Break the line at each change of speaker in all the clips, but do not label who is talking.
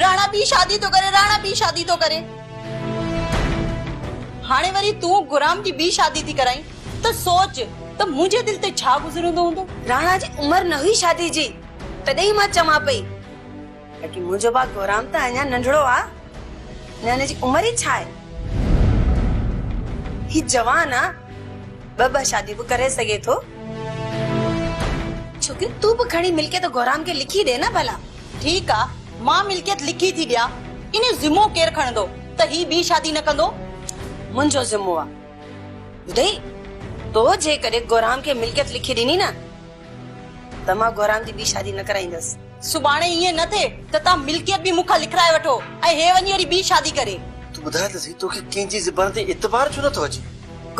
راڻا ٻي شادي ٿو ڪري راڻا ٻي شادي ٿو ڪري هاڻي وري تون گرام جي ٻي شادي ٿي ڪرائين ته سوچ ته منهنجي دل تي ڇا گذرندو هوندو راڻا جي عمر نه
هئي شادي جي تڏهن ئي مان چوان پئي باقي منهنجو ڀاء گرام ته اڃا ننڍڙو آ نه هن جي عمر ئي ڇا آهي هي جوان آ ٻه ٻه شاديون به ڪري سگهي ٿو ڇوڪري تون به کڻي ملڪيت گرام کي لکي ڏي نه ڀلا ٺيڪ آ
مان ملڪيت لکي ٿي ڏيان ان جو ذمو ڪير کڻندو ته هي ٻي شادي نه ڪندو؟ منهنجو
ذمو آ ٻڌئي تو جيڪڏهن گورام کي ملڪيت لکي ڏني نه ته مان گورام جي ٻي شادي نه ڪرائيندس. سڀاڻي ائين نه
ٿئي ته تان ملڪيت به مون کان لکرائي وٺو ۽ هي وڃي وري ٻي شادي ڪري. تون ٻڌاء ته سهي
توکي ڪنهن جي زبان تي اعتبار ڇو نه ٿو اچي؟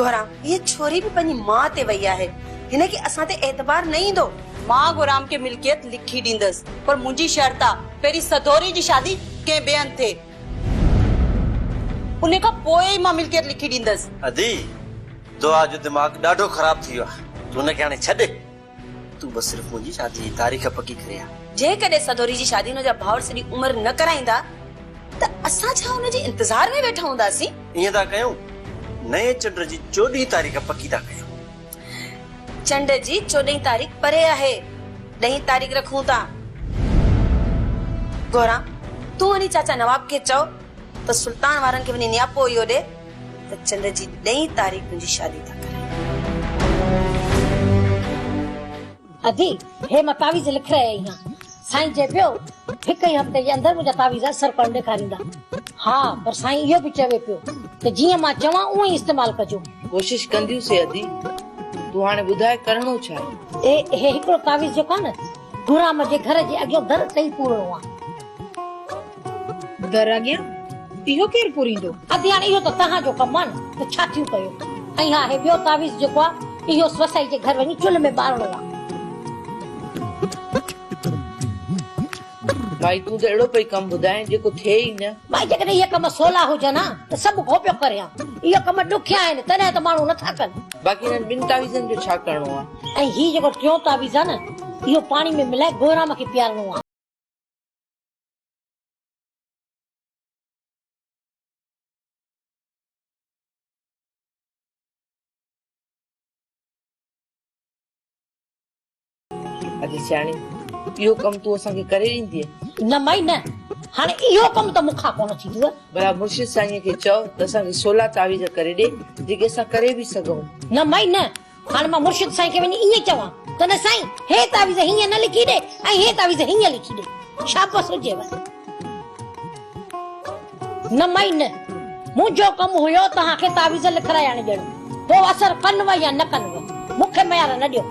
گورام هيء
ڇوري به پنهنجي ماء تي وئي آهي هن کي اسان تي اعتبار نه ايندو. مان غورام کي
ملڪيت لکي ڏيندس پر منهنجي شرط آ پهرين سڌوري جي شادي ڪنهن ٻئي هنڌ ٿئي ان کان پوء ئي مان ملڪيت لکي ڏيندس. ادي
دعا جو دماغ ڏاڍو خراب ٿي ويو آ تون ان کي هاڻي ڇڏ تون بس صرف منهنجي شادي جي تاريخ پڪي ڪري آ. جيڪڏهن سڌوري جي
شادي ان جا ڀائر سڄي عمر نه ڪرائيندا ته اسان ڇا ان جي انتظار ۾ ويٺا هونداسين. ائين ٿا ڪيون
نئين چنڊ جي چوڏهين تاريخ پڪي ٿا ڪيون.
چنڊ جي چوڏهين تاريخ پري آهي. ڏهين تاريخ رکون ٿا. گهران، تون وڃي چاچا نواب کي چئو ته سلطان وارن کي وڃي نياپو اهو ڏي ته چنڊ جي ڏهين تاريخ منهنجي شادي ٿا ڪرين.
ادي، هي مان تعويذ لک رهي اهيان. سائين چئي پيو، هڪ ئي هفتي جي اندر منهنجا تعويذ اثر ڪونه ڏيکاريندا. ها، پر سائين اهو به چوي پيو ته جيئن مان چوان اونئي استعمال ڪجو. ڪوشش ڪنديون سي
ادي، تون هاڻي ٻڌاء ڪرڻو ڇا آهي؟ اي، هي هڪڙو تعويذ
جو ڪانه، گهرام جي گهر جي اڳيون در ٽئي پورڻو آ.
در اڳيان اهو ڪير پوريندو؟ ادياڻ اهو ته توهان
جو ڪم آهي نه ته ڇا ٿيون ڪيو؟ ۽ ها هي ٻيو تعويذ جيڪو آهي اهو سوسائي جي گهر وڃي چلهه ۾ ٻارڻو آهي.
مائي تون ته اهڙو پئي ڪم ٻڌائين جيڪو ٿئي ئي نه. مائي جيڪڏهن اهي ڪم
سولا هجن ها ته سڀ ڪو پيو ڪري ها. اهي ڪم ڏکيا آهن تڏهن ته ماڻهو نه ٿا ڪن. باقي هنن ٻن تعويذن
جو ڇا ڪرڻو آهي؟ ۽ هي جيڪو ٽيون
تعويذ آهي نه اهو پاڻي ۾ ملائي گورام کي پيارڻو آهي.
اڄ سياڻي اهو ڪم تون اسان کي ڪري ڏيندي نه مائي نه
هاڻي اهو ڪم ته مون کان ڪونه ٿيندو بلا مرشد سائين
کي چئو ته اسان کي سولا تعويذ ڪري ڏي جيڪي اسان ڪري به سگهون نه مائي نه
هاڻ مان مرشد سائين کي وڃي ائين چوان ته نه سائين هي تعويذ هيئن نه لکي ڏي ۽ هي تعويذ هيئن لکي ڏي. شابس هجيو. نه مئي نه. منهنجو ڪم هيو توهان کي تعويذ لکرائي آڻي ڏيڻ. پوء اثر ڪنوء يا نه ڪنوء. مون کي ميار نه ڏيو.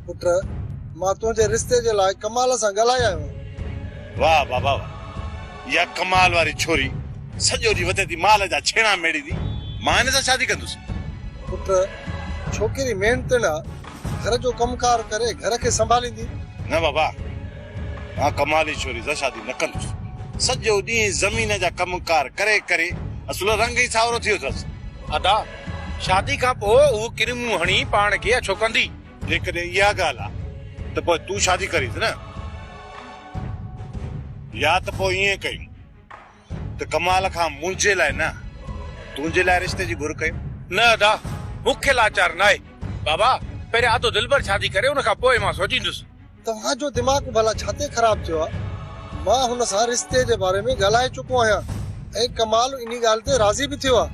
پٽ! مان تنهنجي رستي جي لاء ڪمال سان ڳالهائي آيو آهيان. واهه بابا
واهه! اها ڪمال واري ڇوري سڄو ڏينهن وتي ٿي مال جا ڇيڻا ميڙيندي، مان هن سان شادي ڪندس. پٽ!
ڇوڪري محنتڻ آ، گهر جو ڪم ڪار ڪري گهر کي سنڀاليندي. نه بابا!
مان ڪمال جي ڇوري سان شادي نه ڪندس. سڄو ڏينهن زمين جا ڪم ڪار ڪري ڪري اصل رنگ ئي ساورو ٿي ويو اٿس. ادا!
شادي کان پوء هوء ڪن منهن هڻي پاڻ کي اڇو ڪندي. جيڪڏهن اها
ڳالهه آ ته پوء تون شادي ڪريس نه. يا ته پوء ائين ڪيون ته ڪمال کان منهنجي لاء نه، تنهنجي لاء رشتي جي گهر ڪيون. نه ادا،
مون کي لاچار ناهي. بابا، پهريان ادو دلبر شادي ڪري، ان کان پوء مان سوچيندس. توهان جو دماغ
ڀلا ڇاتي خراب ٿيو آ. مان هن سان رشتي جي باري ۾ ڳالهائي چڪو آهيان ۽ ڪمال انهي ڳالهه تي راضي به ٿيو آ.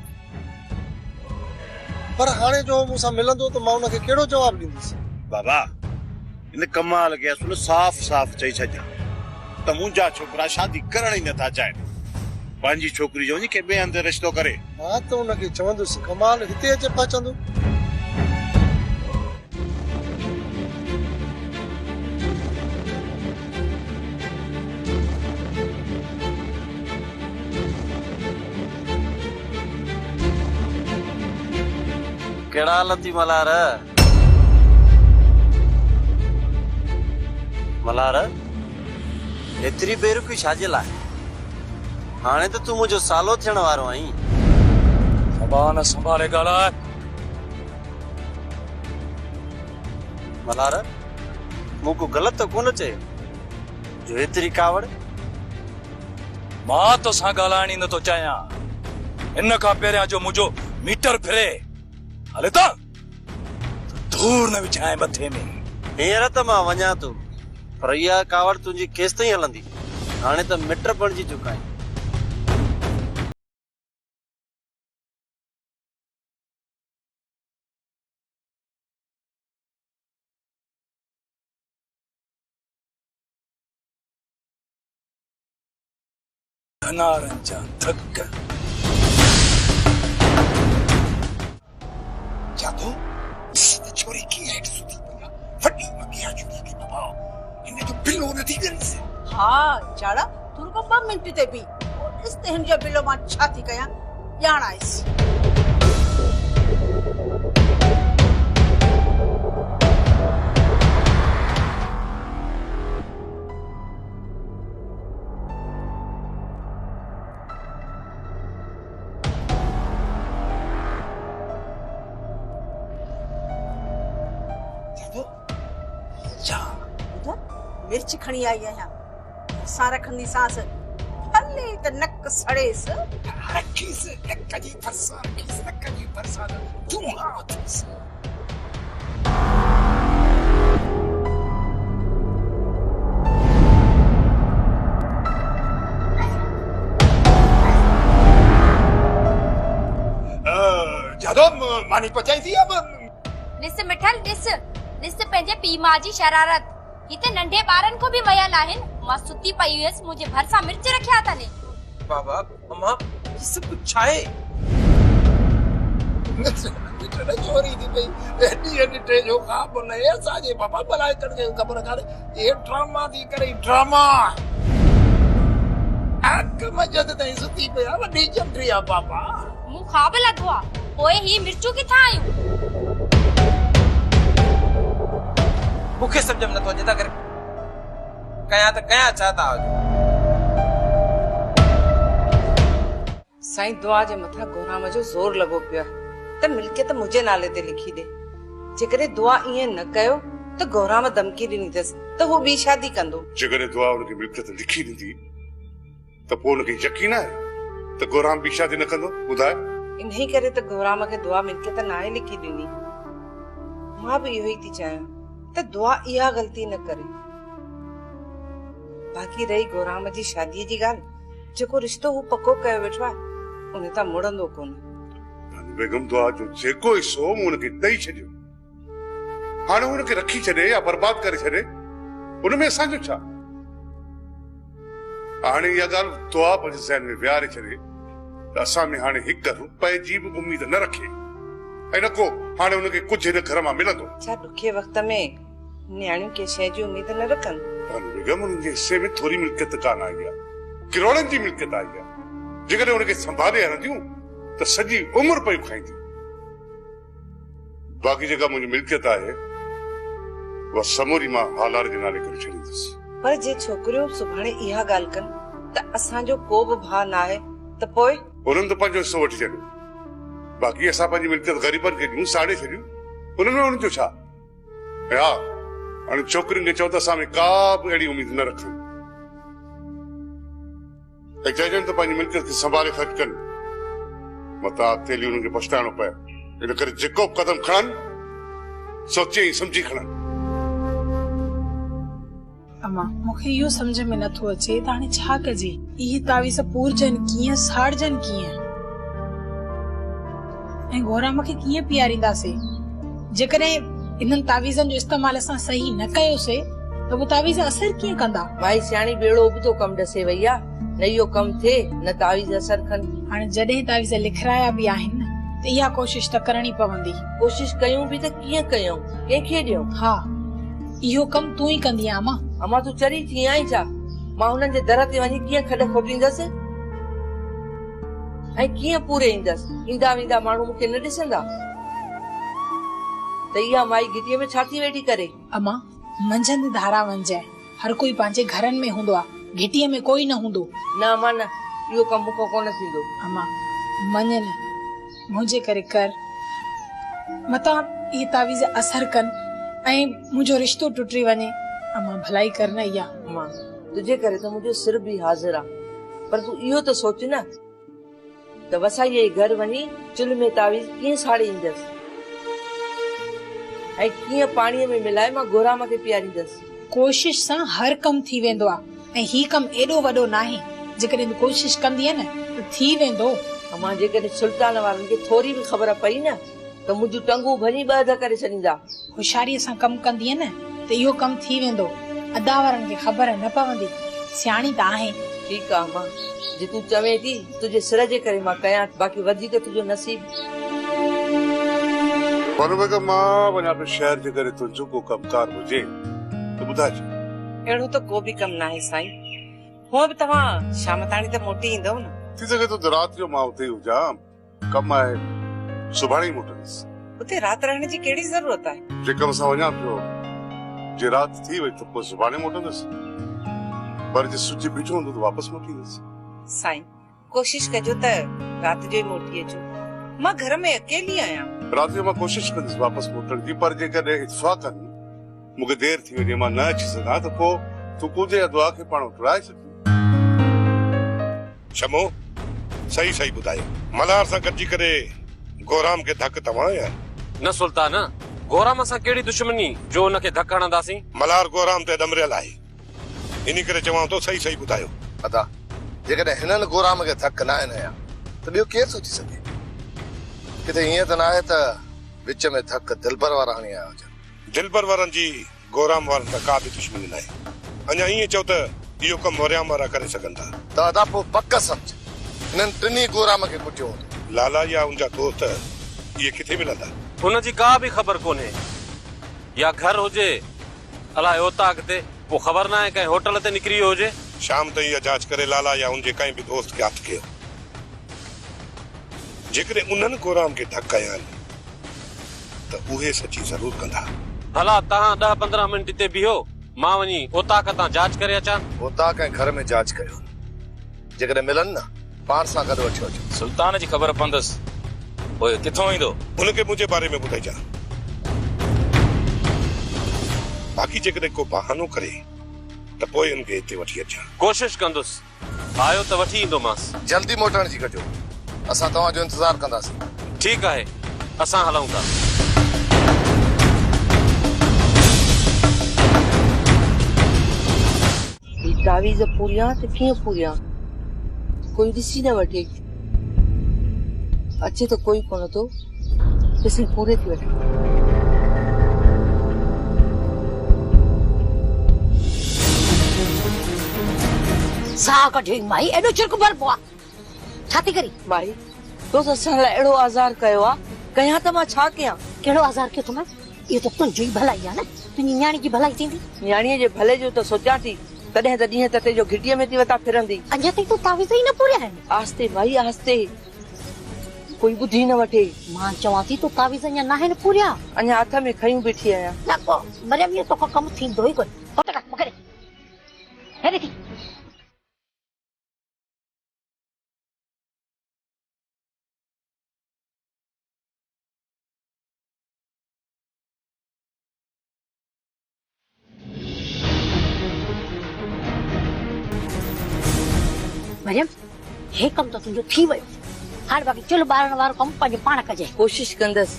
پر هاڻي جو هو مون سان ملندو ته مان ان کي ڪهڙو جواب ڏيندس. بابا
هن ڪمال کي اصل صاف صاف چئي ڇڏجان ته منهنجا ڇوڪرا شادي ڪرڻ ئي نٿا چاهين. پنهنجي ڇوڪري جو وڃي ڪنهن ٻئي هنڌ رشتو ڪري. مان ته ان کي
چوندس ڪمال هتي اچي پهچندو.
ڪهڙا حال اٿئي ملهار؟ ملهار! ايتري بيرڪي ڇا جي لاء؟ هاڻي ته تون منهنجو سالو ٿيڻ وارو آهين.
زبان
سنڀالي ڳالهاء. ملهار، مون ڪو غلط ته ڪونه چيو جو ايتري ڪاوڙ.
مان توسان ڳالهائڻ ئي نٿو چاهيان. ان کان پهريان جو منهنجو ميٽر ڦري. هل هتان. ڌوڙ نه وڇانء مٿي ۾. هينئر ته مان
وڃان ٿو، پر اها ڪاوڙ تنهنجي ڪيستائين هلندي؟ هاڻي ته مٽ بڻجي چڪا آهيون.
ڌنارن جا ڌڪ.
جادو ڏس ته ڇوري ڪيئن هيٺ سٿي پئي آ. وڏي وڳي آ ڇوري کي بابا. هن جو بلو نه ٿي ڳريس. ها جاڙا
تون رڳو ٻه منٽ تي بيهه پوء ڏس ته هن جو بلو مان ڇا ٿي ڪيان. ڄاڻائيس. مرچ کڻي آئي آهيان سان رکندي سانس ڀلي ته نڪ سڙيس رکيس
نڪ جي ڀرسان رکيس نڪ جي ڀرسان جون آ ٿيس ماني پچائي ٿي اب ڏس مٺل
ڏس ڏس پنهنجي پي ماء جي شرارت هتي ننڍي ٻارن کي به ميل آهن مان ستي پئي هيس منهنجي ڀرسان مرچ رکيا اٿن بابا
مما هي سڀ ڪجهه ڇا آهي؟ ڏٺل چوري ٿي پئي ڏينهن ڏٺي جو خواب نه آهي اسان جي پاپا بلائي ڪن کي خبر ڪانهي هي ڊراما ٿي ڪري ڊراما اک مجد تائين ستي پيا وڏي چمڙي آ پاپا مون خواب
لڌو آ پوء هي مرچون ڪٿان آيون
مون کي سمجهه ۾ نٿو اچي ته ڪري ڪيان ته ڪيان ڇا تان آجو.
سائين دعا جي مٿان گهرام جو زور لڳو پيو آهي ته ملڪيت منهنجي نالي تي لکي ڏي. جيڪڏهن دعا ائين نه ڪيو ته گهرام ڌمڪي ڏني اٿس ته هو ٻي شادي ڪندو. جيڪڏهن دعا ان کي
ملڪيت لکي ڏيندي. ته پوء ان کي يقين آهي ته گهرام ٻي شادي نه ڪندو؟ ٻڌاء. انهيء ڪري ته
گهرام کي دعا ملڪيت ناهي لکي ڏني. مان به اهو ئي ٿي چاهيان ته دعا اها غلطي نه ڪري. باقي رهي گهرام جي شاديء جي ڳالهه، جيڪو رشتو هو پڪو ڪيو ويٺو آهي، ان تان مڙندو ڪونه. بانو بيگم
دعا جو جيڪو حصو هو مون هن کي ڏئي ڇڏيو. هاڻي ان کي رکي ڇڏي يا برباد ڪري ڇڏي ان ۾ اسان جو ڇا؟ هاڻي اها ڳالهه دعا پنهنجي ذهن ۾ ويهاري ڇڏي ته اسان ۾ هاڻي هڪ رپئي جي به اميد نه رکي ۽ نه ڪو هاڻي ان کي ڪجهه هن گهر مان ملندو. ڇا ڏکئي وقت
۾ نياڻيون ڪنهن شيء جي اميد نه رکن؟ پر بيگم ان جي
حصي ۾ ٿوري ملڪيت ڪانه آئي آهي، ڪروڙن جي ملڪيت آئي آهي، جيڪڏهن ان کي سنڀالي هلنديون ته سڄي عمر پيون کائينديون. باقي جيڪا منهنجي ملڪيت آهي، اها سموري مان هالار جي نالي ڪري ڇڏيندس. پر جي ڇوڪريون
سڀاڻي اها ڳالهه ڪن ته اسان جو ڪو به ڀاء ناهي ته پوء؟ انهن ته پنهنجو حصو
وٺي ڇڏيو، باقي اسان پنهنجي ملڪيت غريبن کي ڏيون، ساڙي ڇڏيون، انهن ۾ انهن جو ڇا؟ ۽ ها، انهن ڇوڪرين کي چئو ته اسان ۾ ڪا به اهڙي اميد نه رکن. ته چئجن ته پنهنجي ملڪيت کي سنڀالي خرچ ڪن، متان اڳتيلي انهن کي پڇتائڻو پئي. ان ڪري جيڪو به قدم کڻن، سوچي ۽ سمجهي کڻن. اما،
مون کي اهو سمجهه ۾ نه ٿو اچي ته هاڻي ڇا ڪجي؟ اهي تعويذ پورجن ڪيئن، ساڙجن ڪيئن؟ ۽ گورام کي ڪيئن پيارينداسي؟ جيڪڏهن انهن تعويذن جو استعمال اسان صحيح نه ڪيوسي ته اهي تعويذ اثر ڪيئن ڪندا؟ مائي سياڻي ٻيڙو
ابتو ڪم ڏسي وئي آ، نه اهو ڪم ٿئي نه تعويذ اثر ڪن. هاڻي جڏهن تعويذ
لکرايا به آهن ته اها ڪوشش ته ڪرڻي پوندي. ڪوشش ڪيون به
ته ڪيئن ڪيون؟ ڪنهن کي ڏيون؟ ها
اهو ڪم تون ئي ڪندينء امان. امان تون چري ٿي
آهين ڇا؟ مان هنن جي در تي وڃي ڪيئن کڏ کوٽيندس؟ ۽ ڪيئن پوري ايندس؟ ايندا ويندا ماڻهو مون کي نه ڏسندا ته اها مائي گهٽيء ۾ ڇا ٿي ويٺي ڪري؟ اما،
منجهند ڌاران وڃجانء. هر ڪوئي پنهنجي گهرن ۾ هوندو آ. گهٽيء ۾ ڪوئي نه هوندو. نه اما نه، اهو
ڪم مون کان ڪونه ٿيندو. اما،
مڃ نه. منهنجي ڪري ڪر. متان اهي تعويذ اثر ڪن ۽ منهنجو رشتو ٽٽي وڃي. امان، ڀلائي ڪر نه اها. امان، تنهنجي
ڪري ته منهنجو سر به حاضر آ. پر تون اهو ته سوچ نه ته وسائيء جي گهر وڃي چلهه ۾ تعويذ ڪيئن ساڙي ايندس ۽ ڪيئن پاڻيء ۾ ملائي مان گهرام کي پياريندس. ڪوشش سان
هر ڪم ٿي ويندو آ. ۽ هي ڪم ايڏو وڏو ناهي، جيڪڏهن تون ڪوشش ڪندينء نه ته ٿي ويندو. امان، جيڪڏهن
سلطان وارن کي ٿوري به خبر پئي نه ته منهنجون ٽنگون ڀڃي ٻه اڌ ڪري ڇڏيندا. هوشياريء سان ڪم
ڪندينء نه ته اهو ڪم ٿي ويندو. ادا وارن کي خبر نه پوندي. سياڻي ته آهين. ٺيڪ آ امان،
جي تون چوين ٿي، تنهنجي سر جي ڪري مان ڪيان ٿي، باقي وڌيڪ تنهنجو نصيب.
پر اگر مان وڃان ٿو شهر، جيڪڏهن تنهنجو ڪو ڪم ڪار هجي ته ٻڌائجي. اهڙو ته ڪو
به ڪم ناهي سائين. هونء به توهان شام تاڻي ته موٽي ايندؤ نه. ٿي سگهي ٿو ته رات جو
مان اتي ئي هجان. ڪم آهي، سڀاڻي ئي موٽندس. اتي رات رهڻ
جي ڪهڙي ضرورت آهي؟ جي ڪم سان وڃان پيو،
جي رات ٿي وئي ته پوء سڀاڻي موٽندس. پر جي سج بيٺو هوندو ته واپس موٽيندس. سائين،
ڪوشش ڪجو ته رات جو ئي موٽي اچو. مان گهر ۾ اڪيلي آهيان. رات جو مان ڪوشش
ڪندس واپس موٽڻ جي پر جيڪڏهن اتفاقاً مون کي دير ٿي وڃي مان نه اچي سگهان ته پوء تون ڪوجي يا دعا کي پاڻ اٽڙائي ڇڏجي.
شمو، صحيح صحيح ٻڌايو. ملهار سان گڏجي ڪري گورام کي ڌڪ ته هڻايو آهي. نه سلطان،
گورام سان ڪهڙي دشمني جو ان کي ڌڪ هڻنداسين. ملهار گورام تي
ڏمريل آهي. انهي ڪري چوان ٿو صحيح صحيح ٻڌايو. ادا
جيڪڏهن هنن گورام کي ڌڪ ناهن هنيا ته ٻيو ڪير ٿو ٿي سگهي؟ ڪٿي ائين ته ناهي ته وچ ۾ ڌڪ دلبر وارا هڻي آيا هجن. دلبر وارن جي
گورام وارن سان ڪا به دشمني ناهي. اڃا ائين چئو ته اهو ڪم مريام وارا ڪري سگهن ٿا. ته ادا پوء پڪ
سمجهه هنن ٽنهي گورام کي ڪٽيو هوندو. لالا يا ان جا
دوست اهي ڪٿي ملندا؟ ان جي ڪا به
خبر ڪونهي يا گهر هجي. الاء اوت آ ڪٿي. پوء خبر ناهي ڪنهن هوٽل تي نڪري ويو هجي. شام تائين اها جاچ
ڪري لالا يا ان جي ڪنهن به دوست کي هٿ ڪيو. جيڪڏهن انهن ڪورام کي ڍڪ هنيائين ته اهي سچي ضرور ڪندا. ڀلا توهان
ڏهه پندرهن منٽ هتي بيهو، مان وڃي اوطاق تان جاچ ڪري اچان. اوطاق ۽ گهر ۾
جاچ ڪيو. جيڪڏهن ملن نه، پاڻ سان گڏ وٺيو اچو. سلطان جي خبر پوندس،
پوء ڪٿئون ايندو؟ هن کي منهنجي باري ۾
ٻڌائجان. باقي جيڪڏهن ڪو بهانو ڪري ته پوء هن کي هتي وٺي اچان. ڪوشش ڪندس،
آيو ته وٺي ايندومانس. جلدي موٽڻ جي ڪجو.
اسان توهان جو انتظار ڪنداسين. ٺيڪ آهي،
اسان هلون ٿا.
هي تعويذ پوريان ته ڪيئن پوريان، ڪوئي ڏسي نه وٺي. اچي ته ڪوئي ڪونه ٿو، ڏسي پوري ٿي وٺان. ساهه
ڪڍي مائي ايڏو چرڪ ڀربو آ. ڇا ٿي ڪرين؟ مائي، تو
ته اسان لاء اهڙو آزار ڪيو آ، ڪيان ته مان ڇا ڪيان؟ ڪهڙو آزار ڪيو اٿم؟
اهو ته تنهنجو ئي ڀلائي آ نه، تنهنجي نياڻي جي ڀلائي ٿيندي. نياڻيء جي ڀلي جو
ته سوچان ٿي، تڏهن ته ڏينهن تتي جو گهٽيء ۾ ٿي وتان ڦرندي. اڃا تائين تون تعويذ
ئي نه پوريا آهن. آهستي مائي آهستي،
ڪوئي ٻڌي نه وٺي. مان چوان ٿي تو
تعويذ اڃا ناهن پوريا. اڃا هٿ ۾ کنيون
بيٺي آهيان. نه پوء مريم اهو
توکان ڪم ٿيندو ئي ڪونه. هوت ڪر مون کي ڏي. هي ڏي ٿي. مريم هي ڪم ته تنهنجو ٿي ويو هاڻي باقي چلهه ٻارڻ وارو ڪم پنهنجو پاڻ ڪجي ڪوشش ڪندس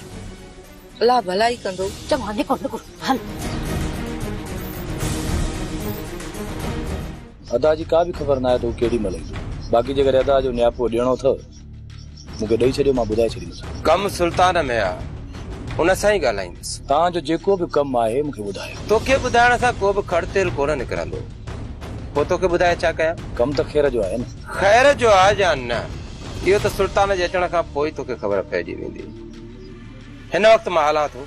الله ڀلائي ڪندو چڱو هاڻي نڪر نڪر
هل
ادا جي ڪا به خبر ناهي ته هو ڪهڙي مهل ايندو. باقي جيڪڏهن ادا جو نياپو ڏيڻو اٿئو مون کي ڏئي ڇڏيو مان ٻڌائي ڇڏيندس. ڪم سلطان ۾
آ ان سان ئي ڳالهائيندس. توهان جو جيڪو به
ڪم آهي مون کي ٻڌايو. توکي ٻڌائڻ سان ڪو
به کڙ تيل ڪونه نڪرندو. پوء توکي ٻڌائي ڇا ڪيان؟ ڪم ته خير جو آهي نه.
خير جو آ
يا نه اهو ته سلطان جي اچڻ کان پوء ئي توکي خبر پئجي ويندي. هن وقت مان هلان ٿو.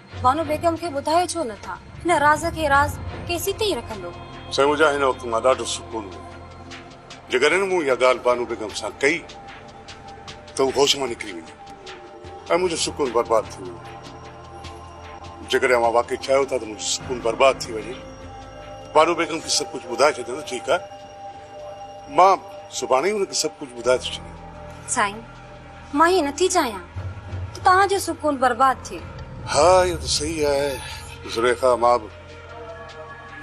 بانو بيگم کي ٻڌايو ڇو نه ٿا؟ هن راز کي راز ڪيس ئي تائين رکندو؟ سائين مون جا هن وقت
مان ڏاڍو سڪون هو. جيڪڏهن مون اها ڳالهه بانو بيگم سان ڪئي ته هو هوش مان نڪري ويندي ۽ منهنجو سڪون برباد ٿي ويندو. جيڪڏهن اوهان واقعي چاهيو ٿا ته منهنجو سڪون برباد ٿي وڃي، بانو بيگم کي سڀ ڪجهه ٻڌائي ڇڏيان ته ٺيڪ آهي. مان سڀاڻي ئي هن کي سڀ ڪجهه ٻڌائي ٿو ڇڏيان. سائين
مان ائين نٿي چاهيان ته توهان جو سڪون برباد ٿئي. ها اهو ته
صحيح آهي زليخا مان به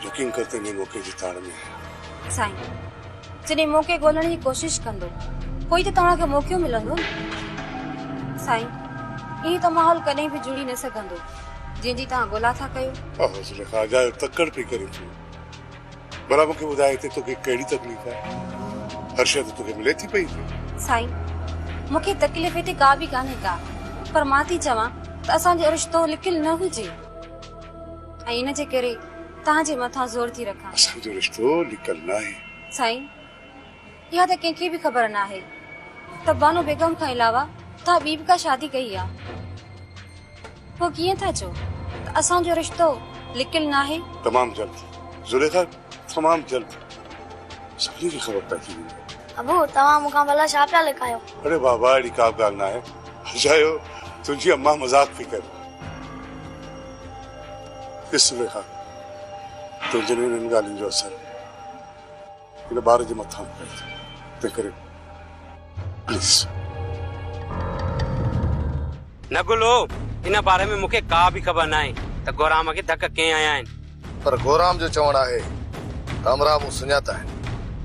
يقين ڪر ته انهي موقعي جي تاڙ ۾ آهيان. سائين
جڏهن موقعي ڳولڻ جي ڪوشش ڪندو پوء ئي ته توهان کي موقعو ملندو نه. سائين ائين ته ماحول ڪڏهن به جڙي نه سگهندو جنهن جي توهان ڳولا ٿا ڪيو. اهو زليخا اجايو
تڪڙ پئي ڪرين ٿيون. ڀلا مون کي ٻڌاء هتي توکي ڪهڙي تڪليف آهي؟ هر شيء ته توکي ملي ٿي پئي هتي. سائين،
مون کي تڪليف هتي ڪا به ڪانهي ڪا، پر مان ٿي چوان ته اسان جو رشتو لڪيل نه هجي ۽ ان جي ڪري توهان جي مٿان زور ٿي رکان. اسان جو رشتو
لڪيل ناهي. سائين.
اها ته ڪنهن کي به خبر ناهي ته بانو بيگم کان علاوه توهان ٻي به ڪا شادي ڪئي آ. پوء ڪيئن ٿا چئو ته اسان جو رشتو لڪيل ناهي؟ تمام جلد
زليخا تمام جلد سڀني کي خبر پئجي ويندي. ابو توهان مون
کان ڀلا ڇا پيا لڪايو؟ اڙي بابا اهڙي ڪا
به ڳالهه ناهي. اجايو تنهنجي امان مذاق پئي ڪري. ڏس زليخا تنهنجن انهن ڳالهين جو اثر. هن ٻار جي مٿان پئي ٿو تنهنڪري پليز.
نه گلو ان باري ۾ مون کي ڪا به خبر ناهي ته گورام کي ڌڪ ڪئين هنيا آهن. پر گورام جو
چوڻ آهي ته امرا مون سڃاتا آهن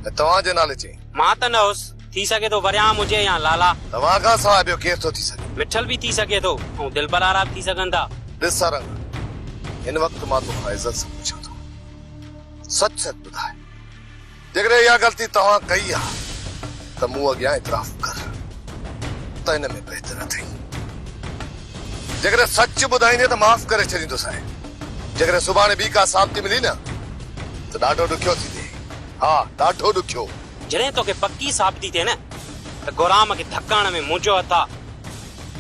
۽ توهان جي نالي چئين. مان ته نه هوس.
ٿي سگهي ٿو وريام هجي يا لالا. توهان کان سواء ٻيو
ڪير ٿو ٿي سگهي. مٺل به ٿي سگهي ٿو
۽ دلبر آرا به ٿي سگهن ٿا. ڏس سارنگ
هن وقت مان توکان عزت سان پڇان ٿو سچ سچ ٻڌاء. جيڪڏهن اها غلطي توهان ڪئي آ ته مون اڳيان اعتراف ڪر ته ان ۾ بهتر اٿئي. جيڪڏهن سچ ٻڌائيندين ته معاف ڪري ڇڏيندوسانء. جيڪڏهن سڀاڻي ٻي ڪا ثابتي ملي نه ته ڏاڍو ڏکيو ٿيندين. ها ڏاڍو ڏکيو. جڏهن توکي پڪي
ثابتي ٿئي نه ته گهرام کي ڌڪڻ ۾ منهنجو هٿ آ،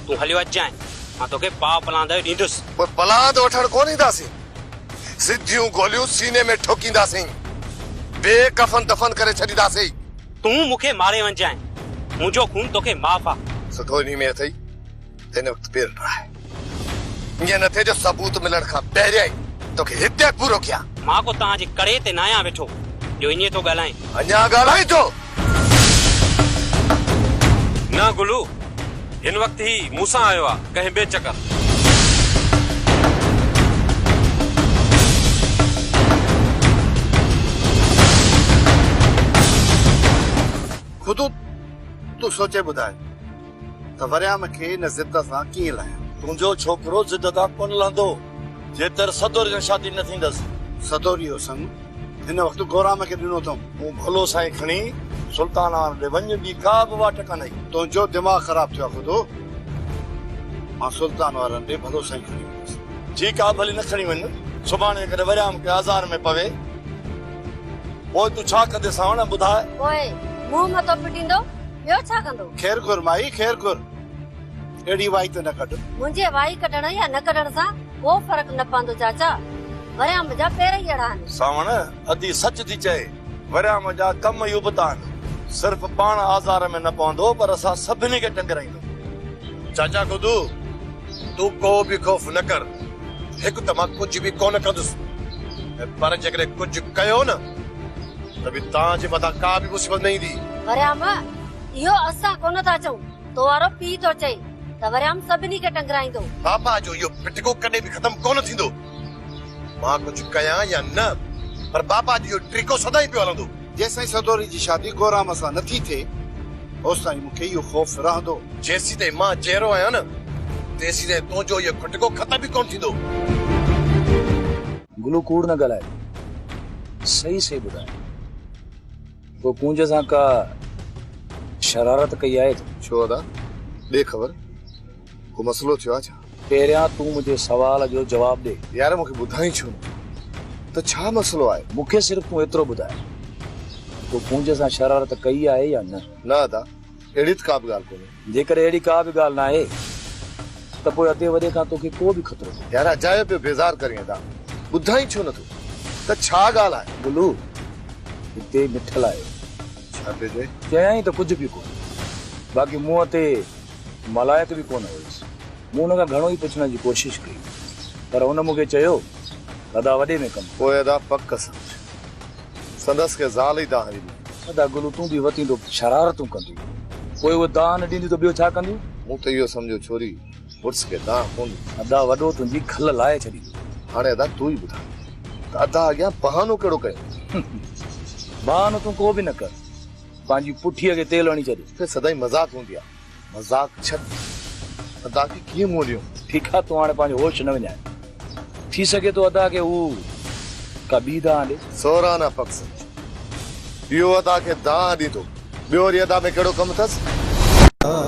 تون هليو اچجانء، مان توکي پاء پلاند ڏيندس. پوء پلاند وٺڻ
ڪونه اينداسين. سڌيون گوليون سيني ۾ ٺوڪينداسين. بي ڪفن دفن ڪري ڇڏينداسين. تون مون کي
ماري وڃجانء. منهنجو خون توکي معاف آ. سڌو انهي ۾ اٿئي
ته هن وقت پير ٽراهه. ائين نه ٿئي جو ثبوت ملڻ کان پهريائين توکي هتي پورو ڪيان. مان ڪو توهان جي ڪڙي
تي ناهيان ويٺو جو ائين ٿو ڳالهائين. اڃا ڳالهائين ٿو.
نه گلو، هن وقت هي مون سان آيو آ، ڪنهن ٻئي چڪر.
خود تون سوچي ٻڌاء. ته وريام کي ان ضد سان ڪيئن لهيان. تنهنجو ڇوڪرو
ضد تان ڪونه لهندو، جيتر سدوريء سان شادي نه ٿيندس. سدوريء حسن
هن وقت گورام کي ڏنو اٿم. تون ڀولو سائين کڻي
سلطان آڻ ڏي وڃ، ٻي ڪا به واٽ ڪانهي. تنهنجو دماغ خراب
ٿيو آهي خدو. مان سلطان وارن ڏي ڀولو سائين کڻي ويندس. ٺيڪ آهي ڀلي نه
کڻي وڃ. سڀاڻي جيڪڏهن وريام ڪنهن آزار ۾ پوي، پوء تون ڇا ڪندين سانوڻ ٻڌاء. پوء منهن
متو ڦٽيندو ٻيو ڇا ڪندو؟ خير گهر مائي خير
گهر. اهڙي وائي ته نه ڪڍ. منهنجي وائي ڪڍڻ
يا نه ڪڍڻ سان ڪو فرق نه پوندو چاچا. وريام جا پير ئي اهڙا آهن. سانوڻ ادي
سچ ٿي چئي. وريام جا ڪم ئي ابتا آهن. صرف پاڻ آزار ۾ نه پوندو پر اسان سڀني کي ٽنگرائيندو. چاچا
گدو تون ڪو به خوف نه ڪر. هڪ ته مان ڪجهه به ڪونه ڪندس ۽ پر جيڪڏهن ڪجهه ڪيو نه. ته به توهان جي مٿان ڪا به مصيبت نه ايندي. وريام، اهو
اسان ڪونه ٿا چئون، تو وارو پيء ٿو چئي ته وريام سڀني کي ٽنگرائيندو. بابا جو اهو
پٽڪو ڪڏهن به ختم ڪونه ٿيندو. مان ڪجهه ڪيان يا نه پر بابا جو اهو ٽرڪو سدائين پيو هلندو. جيسين سدوري جي شادي گورام سان نه ٿي ٿئي اوستائين مون کي اهو خوف رهندو. جيسين تائين مان جيئرو آهيان نه تيسين تائين تنهنجو اهو کٽڪو ختم به ڪونه ٿيندو.
گلو ڪوڙ نه ڳالهاء صحيح صحيح ٻڌاء تو ڪونج سان ڪا شرارت ڪئي آهي تو ڇو ادا
ڏي خبر ڪو مسئلو ٿيو آ ڇا پهريان تون منهنجي
سوال جو جواب ڏي يار مونکي ٻڌائين ڇو
نه ته ڇا مسئلو آهي مونکي صرف تون ايترو
ٻڌاء تو ڪونج سان شرارت ڪئي آهي يا نه نه ادا
اهڙي ته ڪا به ڳالهه ڪونهي جيڪڏهن اهڙي ڪا به
ڳالهه ناهي ته پوء ادي وڏي کان توکي ڪو به خطرو ڪونهي. يار اجايو پيو بيزار
ڪرين ادا ٻڌائين ڇو نٿو ته ڇا ڳالهه آهي. بلو
هتي مٺل آيو ڇا پيو
چئي. چيائين ته ڪجهه
به ڪونه باقي منهن تي ملائڪ به ڪونه هيس. مون هن کان گهڻو ئي پڇڻ جي ڪوشش ڪئي پر هن مونکي چيو ته ادا وڏي ۾ ڪم آهي. پوء ادا پڪ سمجهه
سندس کي زال ئي دانهن ڏني. ادا گلو تون به
وتين ٿو شرارتون ڪنديون پوء اهي دانهن نه ڏينديون ته ٻيو ڇا ڪنديون. مون ته اهو سمجهيو
ڇوري مڙس کي دانهن ڪونه ڏيندي. ادا وڏو تنهنجي
کل لاهي ڇڏيندو. هاڻي ادا تون
ئي ٻڌاء ته ادا اڳيان بهانو ڪهڙو ڪيو. بهانو
تون ڪو به نه ڪر پنهنجي پٺيء کي تيل هڻي ڇڏ. سدائين مذاق هوندي
آهي. مذاق ڇڏ ادا کي ڪيئن موليون. ٺيڪ آ تون هاڻي پنهنجو
هوش نه وڃاء. ٿي سگهي ٿو ادا کي هو ڪا ٻي دانهن ڏي. سورا نه فڪسر
اهو ادا کي دانهن ڏيندو ٻيو وري ادا ۾ ڪهڙو ڪم اٿس.